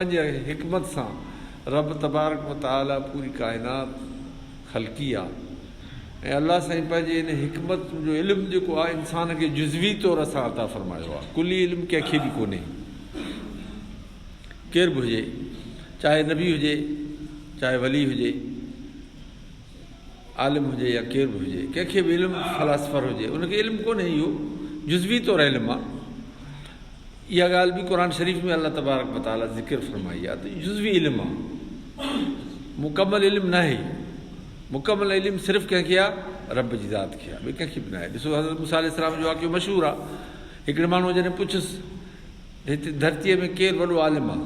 پنهنجي حڪمت سان رب تبارڪ و تعالي پوري ڪائنات خلقي آ ۽ الله سائين پنهنجي ان حڪمت جو علم جيڪو آ انسان کي جزوي طور سان عطا فرمايو آ ڪلي علم ڪنهن کي به ڪونهي ڪير به هجي چاهي نبي هجي چاهي ولي هجي. عالم هجي يا ڪير به هجي ڪنهن کي به علم فلاسفر هجي ان کي علم ڪونهي اهو جزوي طور علم آ اها ڳالهه به قرآن شريف ۾ الله تبارڪ وتعاليٰ ذڪر فرمائي آ ته جزوي علم آ مڪمل علم ناهي مڪمل علم صرف ڪنهن کي آ رب جي ذات کي آ ٻي ڪنهن کي به ناهي ڏسو حضرت موسيٰ عليه السلام جو واقعو مشهور آ هڪڙي ماڻهو جڏهن پڇس هتي ڌرتيء ۾ ڪير وڏو عالم آ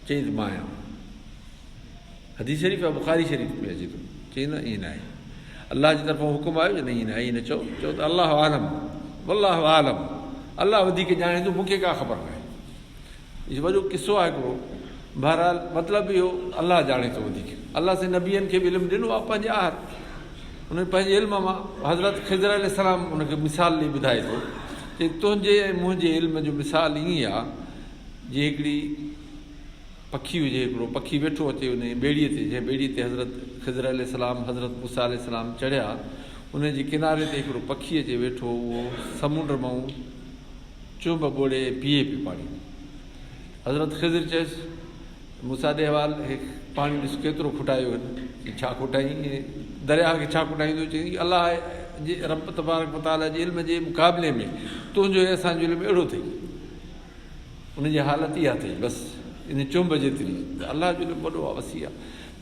چيس مان آهيان حديث شريف يا بخاري شريف ۾ اچي ٿو چئي نه ائين ناهي الله جي طرفان حڪم آيو جو نه ائين ناهي ائين نه چئو چئو ته الله عالم والله عالم الله وڌيڪ ڄاڻي ٿو مونکي ڪا خبر ناهي هي وڏو قصو آهي هڪڙو بهرحال مطلب اهو الله ڄاڻي ٿو وڌيڪ الله سين نبيين کي به علم ڏنو آهي پنهنجي آهر ان پنهنجي علم مان حضرت خضر عليه السلام ان کي مثال ڏيئي ٻڌائي ٿو چي تنهنجي ۽ منهنجي علم جو مثال ائين آهي جي هڪڙي پکي هجي هڪڙو، پکي ويٺو اچي انهيء ٻيڙيء تي، جنهن ٻيڙيء تي حضرت خضر عليه السلام، حضرت موسيٰ عليه السلام چڙهيا، انهيء جي ڪناري تي هڪڙو پکي اچي ويٺو هو، اهو سمنڊ مئو چونب ٻوڙي ۽ پيئي پيو پاڻي. حضرت خضر چيس، موسيٰ ڏي حوال، هي پاڻي ڏس ڪيترو کوٽايو هن، چيائين ڇا کوٽائين، هي درياهه کي ڇا کوٽائيندو، چيائين الله جي، رب تبارڪ و تعاليٰ جي علم جي مقابلي ۾ تنهنجو ۽ اسان جو علم اهڙو اٿئي. ان جي حالت اها اٿئي بس ان چنب جيتري ته الله جو علم وڏو آ وسيع آ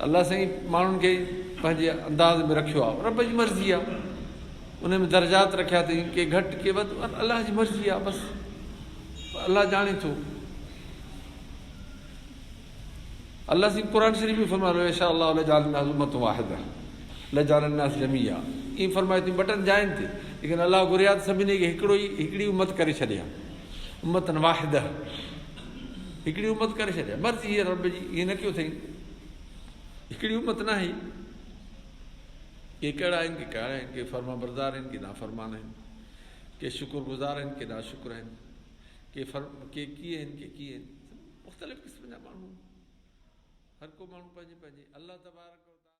الله سائين ماڻهن کي پنهنجي انداز ۾ رکيو آ رب جي مرضي آ ان ۾ درجات رکيا اٿئي ڪي گهٽ ڪي وڌ الله جي مرضي آ بس الله ڄاڻي ٿو الله سائين قرآن شريف ۾ فرمايو ان شاء الله لجعل الناس امة واحده لجعل الناس جميعا ايئن فرمايو تي بٽن جائن تي ليڪن الله گهريا ته سڀني کي هڪڙو ئي هڪڙي امت ڪري ڇڏيا امتن واحده هڪڙي امت ڪري ڇڏيا مرضي هي رب جي ايئن نه ڪيو اٿئي هڪڙي امت نه آهي ڪي ڪهڙا آهن ڪي ڪهڙا آهن ڪي فرما بردار آهن ڪي نافرمان آهن ڪي شڪر گذار آهن ڪي ناشڪر آهن ڪي فرم ڪي ڪي آهن ڪي ڪي آهن مختلف قسم جا ماڻهو هر ڪو ماڻهو پنهنجي پنهنجي الله تبارڪ وتعالٰي.